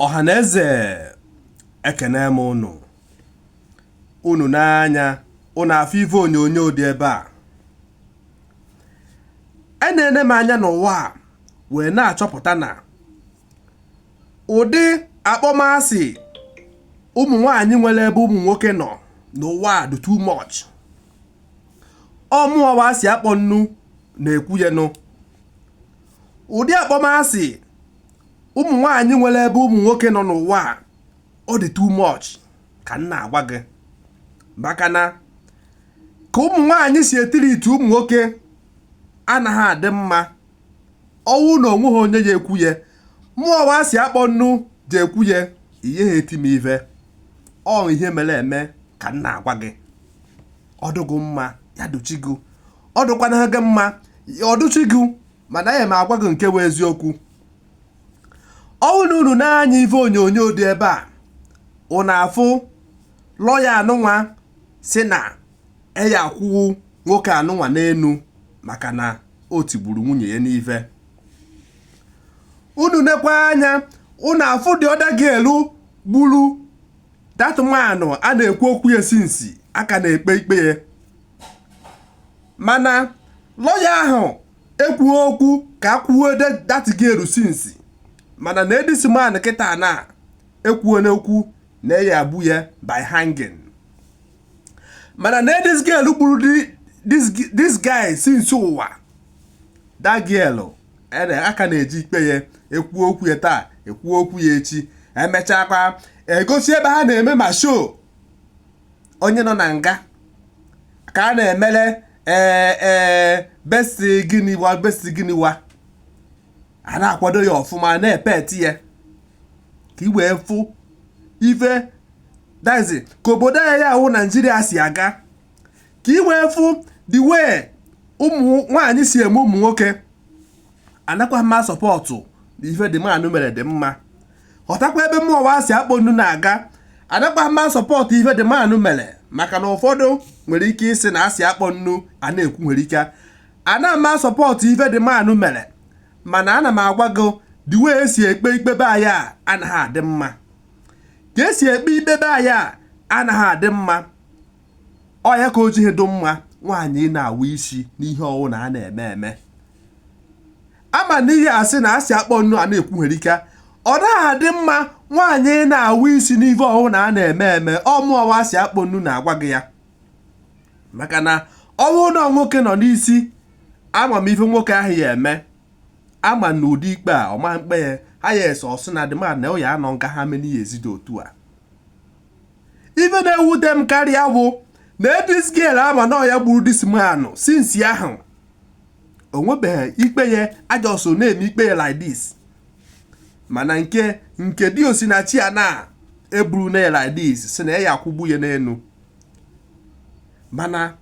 ọha na eze ekene m ụnụ unu nee anya unu afụ ife onyonyo dị ebe a enene m anya n'ụwa a wee na-achọpụta na ụdị akpọmasị ụmụ nwanyị nwere ebe ụmụ nwoke nọ n'ụwa a dị too much ọ mụwa asị akpọ nnu na-ekwu ya nụ ụdị akpọmasị ụmụ nwaanyị nwere ebe ụmụ nwoke nọ n'ụwa a ọ dị too much ka m na-agwa gị maka na ka ụmụ nwaanyị si etiriiti ụmụ nwoke anaghị adị mma ọ wụ na o nweha onye ya-ekwu ya mụwa asị akpọ nnu ji ekwu ya ị yaha eti m ive ọ ihe mere eme ka m na-agwa gị ọdụgụ mma ya dochigo ọ dụkwanaha gị mma ọ dụchi gị mana aya m agwa gị nke bụ eziokwu ọ wụ na unu nee anya ife onyonyo dị ebe a unu afụ lọya anụnwa si na a ya-akwụ nwoke anụnwa n'enu maka na o tigburu nwunye ya n'ife unu nekwa anya unu afụ the other girl gburu that man a na-ekwu okwu ya since a ka na-ekpe ikpe ya mana lọya ahụ ekwughị okwu ka a kwụọ that girl since mana na this man kịta na ekwuona okwu na a ya-egbu ya by hanging mana na this girl gburu this guy since ụwa that girl a ka na-eji ikpe ya ekwuo okwu ya taa ekwuo okwu ya echi emechakwa egosi ebe ha na-eme ma show onye nọ na nga ka a na-emere ee eh, ee eh, best gịnị wa best gịnị wa a na-akwado ya ọfụma na-epeti ya ka i wee fụ ife that's ka obodo anyị a wụ naijiria si aga ka i wee fụ the way ụmụ nwaanyị si eme ụmụ nwoke anakwaha m a support na ife the man mere dị mma ghọtakwa ebe mụwa asị akpọ nnu na-aga anakwaha m a support ife the man mere maka na ụfọdụ nwere ike ịsị na asị akpọ nnu a na-ekwu nwere ike ana m a support ife the man mere mana ana m agwa gị the way e si ekpe ikpe be anyị a anaghị adị mma ka e si ekpe ikpe be anyị a anaghị adị mma ọ ya ka o jighị dị mma nwaanyị ị na-awụ isi n'ihe ọwụna a na-eme eme ama na ihe asị na asị akpọ nnu a na-ekwu nwere ike ọ naghị adị mma nwaanyị ị na-awụ isi n'ihe ọwụna a na-eme eme ọ mụwa asị akpọ nnu na-agwa gị ya maka na ọ wụ na nwoke nọ n'isi ama m ife nwoke ahụ ya-eme ama m na ụdị ikpe a ọ ma-ekpe ya ha ya-ese sị na the man na ọ ya-anọ nga how many years dị otu a ife na-ewute m karịa wụ na this girl a ma na ya gburu this man since ahụ o nwebeghị ikpe ya a just na-eme ikpe ya like this mana nke nke di osinachi a na-eburu na ya like this sị na a ya-akwụgbu ya n'enu mana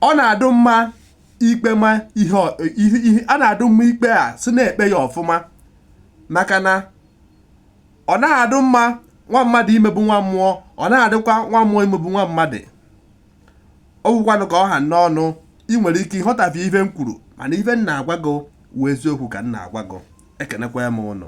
ọ na-adụ mma ikpe ma ihe a na-adụ mma ikpe a sị na-ekpe ya ọfụma maka na ọ naghị adị mma nwa mmadụ imegbu nwa mmụọ ọ naghị adịkwa nwa mmụọ imegbu nwa mmadụ ọ wụkwanụ ka ọ ha m n'ọnụ ị nwere ike ịghọtafie ife m kwuru mana ife m na-agwa gị wụ eziokwu ka m na-agwa gị ekenekwa m ụnụ